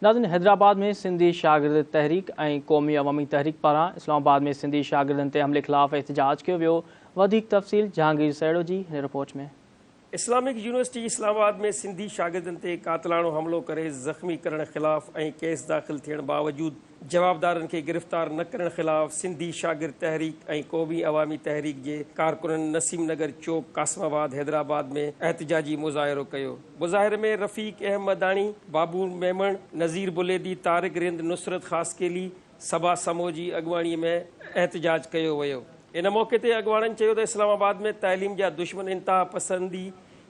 ناظرين حيدرآباد ۾ سنڌي شاگرد تحريڪ ۽ قومي عوامي تحريڪ پاران اسلام آباد ۾ سنڌي شاگردن تي حملي خلاف احتجاج ڪيو ويو وڌيڪ تفصيل جهانگير سهيڙو جي هن report ۾. Islamic university Islamabad ۾ Sindhi شاگردن تي قاتلاڻو حملو ڪري زخمي ڪرڻ خلاف ۽ ڪيس داخل ٿيڻ باوجود جوابدارن کي گرفتار نه ڪرڻ خلاف سنڌي شاگرد تحريڪ ۽ قومي عوامي تحريڪ جي ڪارڪنن نسيم نگر چوڪ قاسم آباد حيدرآباد ۾ احتجاجي مظاهرو ڪيو مظاهري ۾ رفيق احمداڻي، بابو ميمڻ، نظير بليدي، طارق رند، نصرت خاصخيلي، صبا سمون جي اڳواڻي ۾ احتجاج ڪيو ويو ان موقعي تي اڳواڻن چيو ته اسلام آباد ۾ تعليم جا دشمن انتها پسندي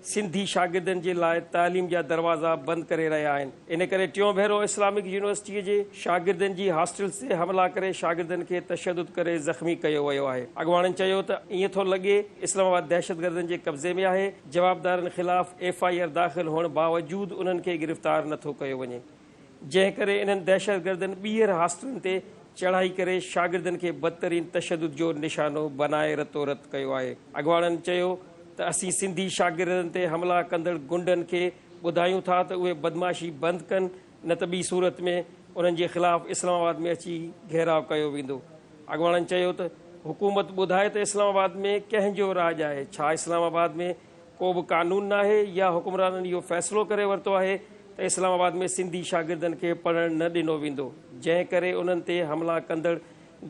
سنڌي شاگردن جي لاء تعليم جا دروازا بند ڪري رهيا آهن ان ڪري ٽيون ڀيرو اسلامڪ يونيورسٽيء جي شاگردن جي هاسٽلز تي حملا ڪري شاگردن کي تشدد ڪري زخمي ڪيو ويو آهي اڳواڻن چيو ته ائين ٿو لڳي اسلام آباد دهشتگردن جي قبضي ۾ آهي جوابدارن خلاف ايف آء آر داخل هئڻ باوجود انهن کي گرفتار نٿو ڪيو وڃي جنهن ڪري انهن دهشتگردن ٻيهر هاسٽلن تي چڙهائي ڪري شاگردن کي بدترين تشدد جو نشانو بنائي رتو رت ڪيو آهي. اڳواڻن چيو ته اسين سنڌي شاگردن تي حملا ڪندڙ غنڊن کي ٻڌايون ٿا ته اهي بدمعاشي بند ڪن نه ته ٻي صورت ۾ انهن جي خلاف اسلام آباد ۾ اچي گهيراء ڪيو ويندو. اڳواڻن چيو ته حڪومت ٻڌائي ته اسلام آباد ۾ ڪنهن جو راڄ آهي، ڇا اسلام آباد ۾ ڪو به قانون ناهي يا حڪمرانن اهو فيصلو ڪري ورتو آهي ته اسلام آباد ۾ سنڌي شاگردن کي پڙهڻ نه ڏنو ويندو جنهن ڪري انهن تي حملا ڪندڙ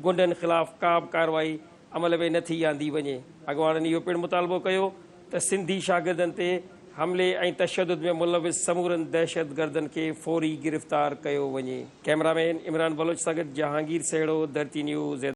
غنڊن خلاف ڪابه ڪارروائي عمل ۾ نه ٿي آندي وڃي اڳواڻن اهو پڻ مطالبو ڪيو ته سنڌي شاگردن تي حملي ۽ تشدد ۾ ملوث سمورن دهشتگردن کي فوري گرفتار ڪيو وڃي. ڪئميرا مين عمران بلوچ سان گڏ جهانگير سهڙو، ڌرتي نيوز.